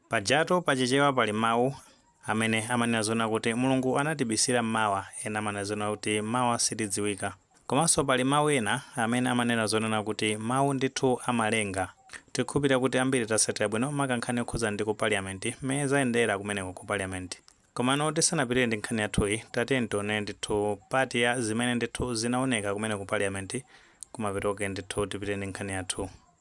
Pajatu pa Chichewa pali mawu amene amanena zoona kuti Mulungu anatibisira m'mawa, ena amanena zoona kuti mawa sitidziwika. Komanso pali mawu ena amene amanena zonena kuti mawu ndithu amalenga. Tikhulupirira kuti ambiri tatsatira bwino maka nkhani yokhudzana ndi ku Parliament mmene zayendera kumeneko ku Parliament. Komano tisanapitirire ndi nkhani yathuyi, tatiyeni tione ndithu part ya zimene ndithu zinaoneka kumene ku Parliament, kumapeto kwake ndithu tipitirire ndi nkhani yathu.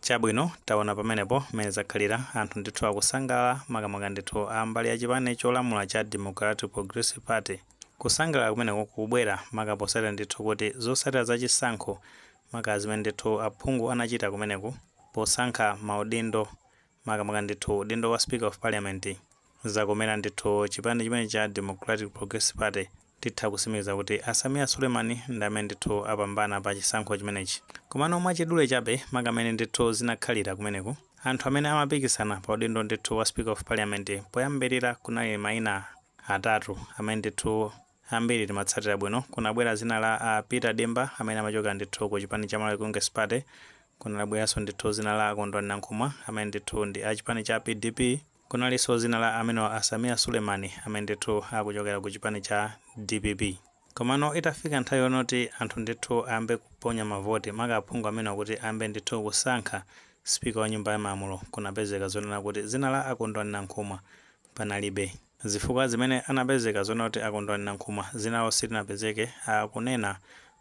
Chabwino, taona pamenepo mmene zakhalira, anthu ndithu akusangalala, makamaka ndithu a mbali ya chipani cholamula cha Democratic Progressive Party. Kusangalala kumeneko kukubwera maka potsatira ndithu kuti zotsatira za chisankho, maka zimene ndithu aphungu anachita kumeneku posankha maudindo makamaka ndithu udindo wa speaker of parliament zakomera ndithu chipani chimene cha Democratic Progressive Party titha kusimikiza kuti a Sameer Suleiman ndi amene ndithu apambana pa chisankho chimenechi komano mwachidule chabe maka mmene ndithu zinakhalira kumeneku anthu amene amapikisana pa udindo ndithu wa speaker of parliament poyambirira kunali maina atatu amene ndithu ambiri timatsatira bwino kunabwera zina la a Peter Dimba amene amachokera ndithu ku chipani cha Malawi Congress Party, kunabweranso ndithu zina la a Kondwani Nankhumwa amene ndithu ndi a chipani cha PDP, kunalinso zina la amenewa a Sameer Suleiman amene ndithu akuchokera ku chipani cha dpp. Komano itafika nthawi yonoti anthu ndithu ayambe kuponya mavoti, maka aphungu amenewa kuti ayambe ndithu kusankha Speaker wa nyumba ya malamulo, kunapezeka zonena kuti zina la a Kondwani Nankhumwa panalibe. Zifukwa zimene anapezeka zoona kuti a Kondwani Nankhumwa dzina lawo silinapezeke, akunena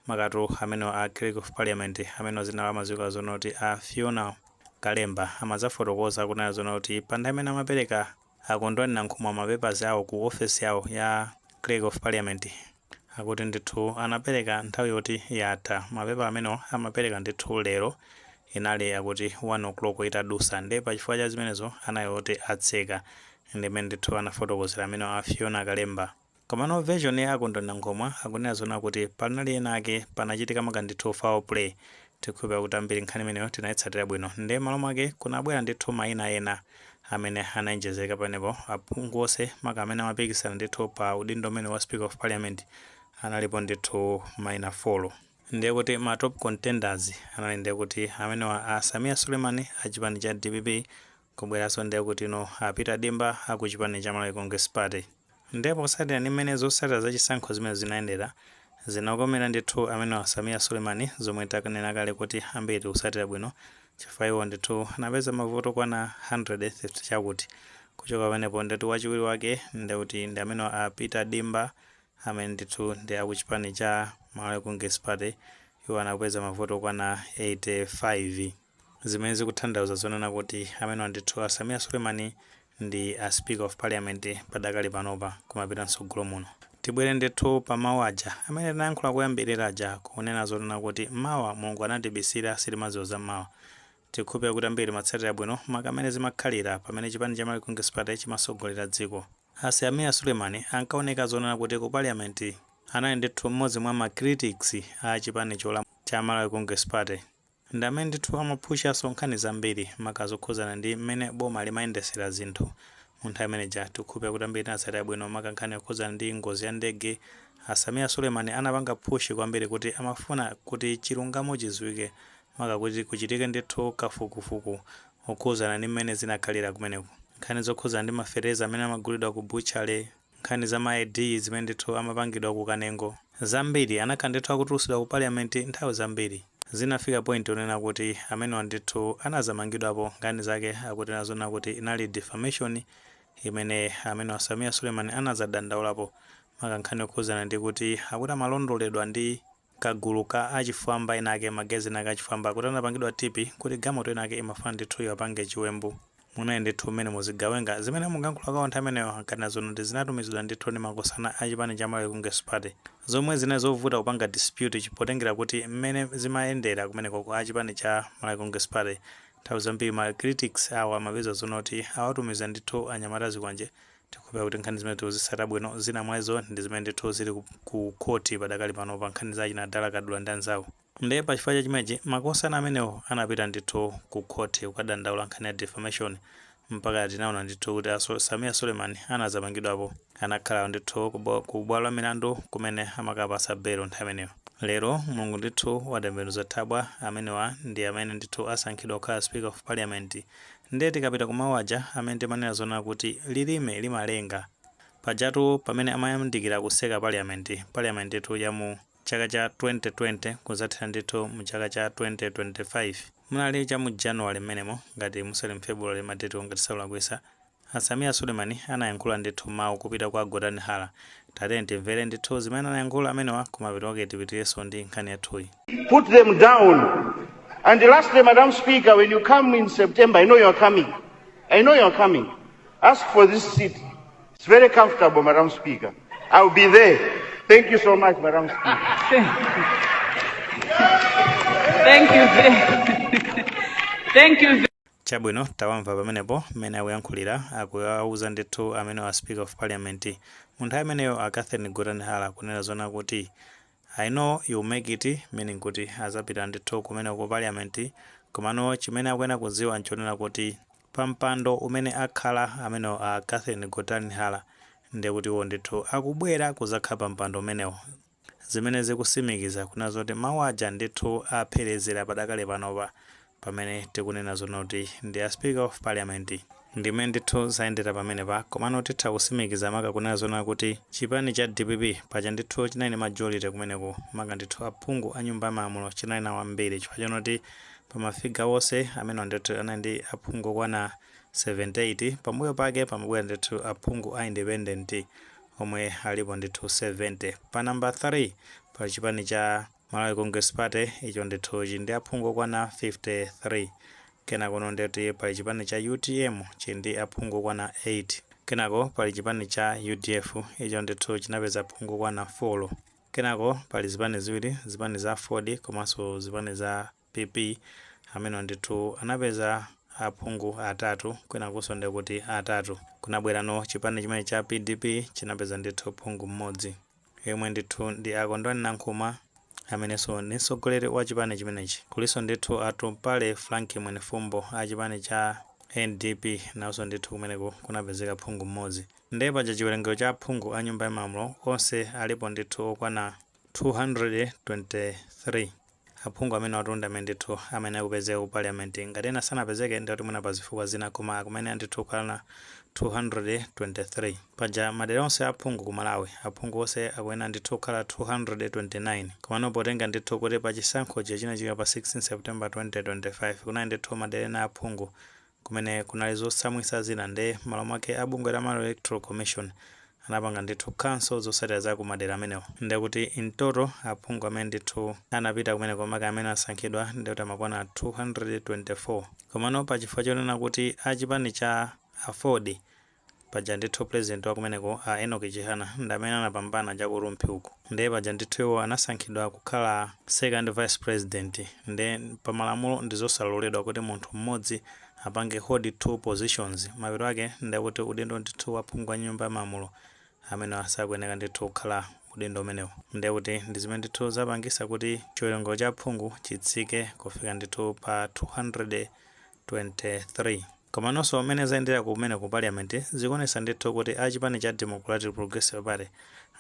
makatu amenewa a Clerk of Parliament amenewa dzina lawo amadziwika zoona kuti a Fiona Kalemba amadzafotokoza kunena zoona kuti pa nthawi imene amapereka a Kondwani Nankhumwa ma papers awo ku ofesi yawo ya Clerk of Parliament, akuti ndithu anapereka nthawi yoti yatha mapepala amenewo amapereka ndithu lero inali akuti 1 o'clock itadusa nde pachifukwa cha zimenezo anali oti atseka ndimene ndithu anafotokozera amenewo a fiona kalemba komano version ya akondwani nankhumwa akunena zoona kuti panali ena ake panachitika maka ndithu foul play tikhulupira kuti ambiri nkhani imeneyo tinaitsatira bwino nde malo mwake kunabwera ndithu maina ena amene anayenjezeka pamenepo, aphungu onse, maka amene amapikisana ndithu pa udindo umenewu wa Speaker of Parliament, analipo ndithu maina folo. Ndiye kuti ma top contenders anali ndiye kuti amenewa a Sameer Suleiman a chipani cha dpp, kubweranso ndiye kutino a Peter Dimba a ku chipani cha Malawi Congress Party, Nde potsatira ndi mmene zotsatira za chisankho zimenezo zinayendera, zinakomera ndithu amenewa Sameer Suleiman zomwe tanena kale kuti ambiri tikutsatira bwino chifukwa iwo ndithu anapeza mavote okwana 100 50 chakuti. Kuchoka pamenepo ndetu wachiwiri wake ndeuti ndi amenewa a Peter Dimba amene ndithu ndi a kuchipani cha Malawi Congress Party iwo anapeza mavote okwana 85. zimene zikutanthauza zonena kuti amenewa ndithu a Sameer Suleiman ndi a speaker of parliament padakali panopa kumapita mtsogolo muno. Tibwere ndithu pa mau aja amene tinayankhula koyambilira aja kunena zonena kuti mawa Mulungu anatibisira sitimadziwa za mawa. Tikukhulupilira kuti ambiri timatsatira bwino maka mmene zimakhalira pamene chipani cha Malawi Congress Party chimatsogolera dziko. A Sameer Suleiman ankaoneka zonena kuti ku parliament anali ndithu mmodzi mwa ma critics a chipani cholamula cha Malawi Congress Party. Ndi amene ndithu amaphushanso nkhani zambiri maka zokhudzana ndi mmene boma limayendesera zinthu. Munthawi imene ija tikukhulupira kuti ambiri tinatsatira bwino maka nkhani yokhudzana ndi ngozi ya ndege, a Sameer Suleiman anapanga push kwambiri kuti amafuna kuti chilungamo chidziwike maka kuti kuchitike ndithu kafukufuku okhudzana ndi mmene zinakhalira kumeneko. Nkhani zokhudzana ndi ma fertilizer amene amagulidwa ku butchery, nkhani za ma ID zimene ndithu amapangidwa ku Kanengo, zambiri anakhala ndithu akutulusidwa ku Parliament nthawi zambiri. Zinafika point yonena kuti amenewa ndithu anazamangidwapo, nkhani zake akuti nazonena kuti inali defamation imene amenewa Sameer Suleiman anazadandaulapo, maka nkhani yokhudzana ndi kuti akuti amalondoledwa ndi. kagulu ka achifwamba inaake magazine ake achifwamba akuti anapangidwa tipi kuti gamoto inayake imafuna ndithu iwapange chiwembu munali ndithu mmenemo zigawenga zimene mukuyankhula kwawo nthawi imeneyo ankanena zonoti zinatumizidwa ndithu ndi makosana a chipani cha Malawi Congress Party zomwe zinali zovuta kupanga dispute chi potengera kuti mmene zimayendera kumenekoko a chipani cha Malawi Congress Party nthawi zambiri ma critics awo amapeza zonoti awatumizira ndithu anyamata azikwanje Tikukhulupirira kuti nkhani zimenezi tikuzitsata bwino, zina mwa izo ndi zimene ndithu zili ku khoti padakali panopa nkhani za achina Dala Kadula ndi anzawo. Ndiye pa chifukwa cha chimenechi, makosana amenewo anapita ndithu ku khoti kukadandaula nkhani ya defamation mpaka tinaona ndithu kuti a Sameer Suleiman anadzamangidwapo. Anakhala ndithu ku bwalo la milandu kumene amakapatsa belo nthawi imeneyo. Lero, Mulungu ndithu watembenuza thabwa, amenewa ndi amene ndithu asankhidwa kukhala Speaker of Parliament Nde tikapita ku mau aja amene timanena zoona kuti lilime limalenga. Pajatu pamene amayandikira kuseka parliament, parliament tu ya mu chaka cha 2020 kuzathera ndithu mu chaka cha 2025. Munali cha mu January mmenemo ngati musali mu February ma date wo ngati sindikulakwisa. A Sameer Suleiman anayankhula ndithu mau kupita kwa Gotani Hara Tatiyeni timvere ndithu zimene anayankhula amenewa kumapeto kwake tipitirenso ndi nkhani yathuyi. put them down. And lastly, Madam Speaker, when you come in September, I know you are coming. I know you are coming. Ask for this seat. It's very comfortable, Madam Speaker. I'll be there. Thank you so much, Madam Speaker. Thank you. ve- Thank you. ve- Chabwino, tawamva pamenepo mmene akuyankhulira, akuawuza ndithu amenewo a Speaker of Parliament. Munthawi imeneyo a Catherine Gotani Hara kunena zonena kuti I know you'll make it meaning kuti azapita ndithu kumeneko ku Parliament komano chimene akuyenera kudziwa nchonena kuti pa mpando umene akhala amenewo a Catherine Gotani Hara ndekuti iwo ndithu akubwera kudzakhala pa mpando umenewo. zimene zikusimikiza kunena zoti mau aja ndithu aphelezera padakali panopa pamene tikunena zonena kuti ndi a speaker of parliament. Ndi mmene ndithu zayendera pamenepa komano titha kusimikiza maka kunena zonena kuti chipani cha dpp paja ndithu chinali ndi majority kumeneko maka ndithu aphungu a nyumba ya malamulo chinali nawo ambiri chifukwa chonena kuti pa ma figure onse amenewa ndithu anali ndi aphungu okwana 78 pambuyo pake pamabwera ndithu aphungu a independent omwe alipo ndithu 70 pa number 3 pali chipani cha Malawi Congress Party icho ndithu chili ndi aphungu okwana 53 kenakono ndiye kuti pali chipani cha utm chili ndi aphungu okwana 8 kenako pali chipani cha udf icho ndithu chinapeza aphungu okwana 4 kenako pali zipani ziwiri zipani za aford komanso zipani za PP amenewa ndithu anapeza aphungu atatu kwinakuso ndekuti atatu kunabwerano chipani china cha pdp chinapeza ndithu phungu mmodzi yemwe ndithu ndi a Kondwani Nankhuma ameneso ndi mtsogoleri wa chipani chimenechi kuliso ndithu Atumpale Frank Mwenifumbo a chipani cha NDP naoso ndithu kumeneku kunapezeka phungu mmodzi nde paja chiwerengero cha aphungu a nyumba ya malamulo onse alipo ndithu okwana 223 Aphungu amenewatu ndi amene ndithu amayenera kupezeka ku Parliament, ngati ena sanapezeke ndekuti mwina pa zifukwa zina koma akumayenera ndithu kukhala 223. Paja madera onse a aphungu ku Malawi, aphungu onse akuyenera ndithu kukhala 229. Komano potenga ndithu kuti pa chisankho chija chinachitika pa 16 September 2025 kunali ndithu madera ena a aphungu kumene kunali zotsamwitsa zina nde mmalo mwake a bungwe la Malawi Electoral Commission anapanga ndithu cancel zotsatira za ku madera amenewo nde kuti in total aphungu amene ndithu anapita kumeneko maka amene asankhidwa nde kuti amakwana 224 komano pa chifukwa chonena kuti a chipani cha aford Paja ndithu president wa kumeneko a Enock Chihana ndi amene anapambana cha ku Rumphi uku nde paja ndithu iwo anasankhidwa kukhala second vice president nde pa malamulo ndi zosaloledwa kuti munthu mmodzi apange hold two positions mapeto ake nde kuti udindo ndithu wa phungu wa nyumba ya malamulo amenewa sakuyeneka ndithu kukhala udindo umenewu nde kuti ndi zimene ndithu zapangisa kuti chiwerengero cha aphungu chitsike kufika ndithu pa 223. Komanonso mmene zayendera kumene ku parliament zikuonetsa ndithu kuti a chipani cha Democratic Progressive Party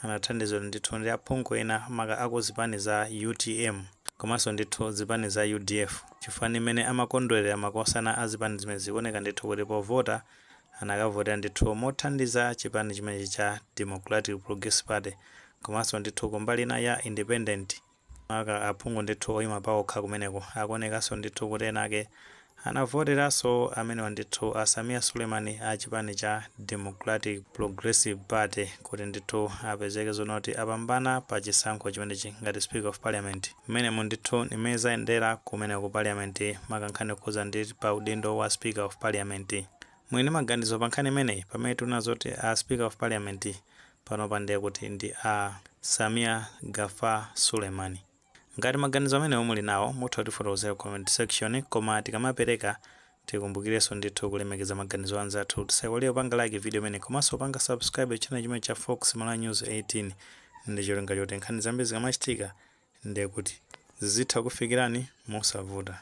anathandizidwa ndithu ndi aphungu ena maka a ku zipani za utm komanso ndithu zipani za udf chifukwa ndi mmene amakondwerera makosana a zipani zimenezi zikuoneka ndithu kuti povota anakavotera ndithu mothandiza chipani chimenechi cha Democratic Progressive Party komanso ndithu ku mbali ina ya independent Maka aphungu ndithu oyima paokha kumeneko. Akuonekanso ndithu kuti ena ake anavoteranso amenewa ndithu a Sameer Suleiman a chipani cha Democratic Progressive Party kuti ndithu apezeke zoonati apambana pa chisankho chimenechi ngati Speaker of Parliament. Mmenemu ndithu ndi mmene zayendera kumeneko ku Parliament maka nkhani yokhudza ndi pa udindo wa Speaker of Parliament. Muli ndi maganizo pa nkhani imeneyi? Pamene tikunena zoti a Speaker of Parliament panopa ndiye kuti ndi a Sameer Gaffar Suleiman. Ngati maganizo amenewo muli nawo, mutha kutifotokozera ku comment section, koma tikamapereka tikumbukirenso ndithu kulemekeza maganizo a anzathu. Tisaiwale kupanga like video imeneyi komanso kupanga subscribe channel chimenechi cha Fox Malawi News 18 ndi cholinga choti nkhani zambiri zikamachitika ndiye kuti zizitha kukufikirani mosavuta.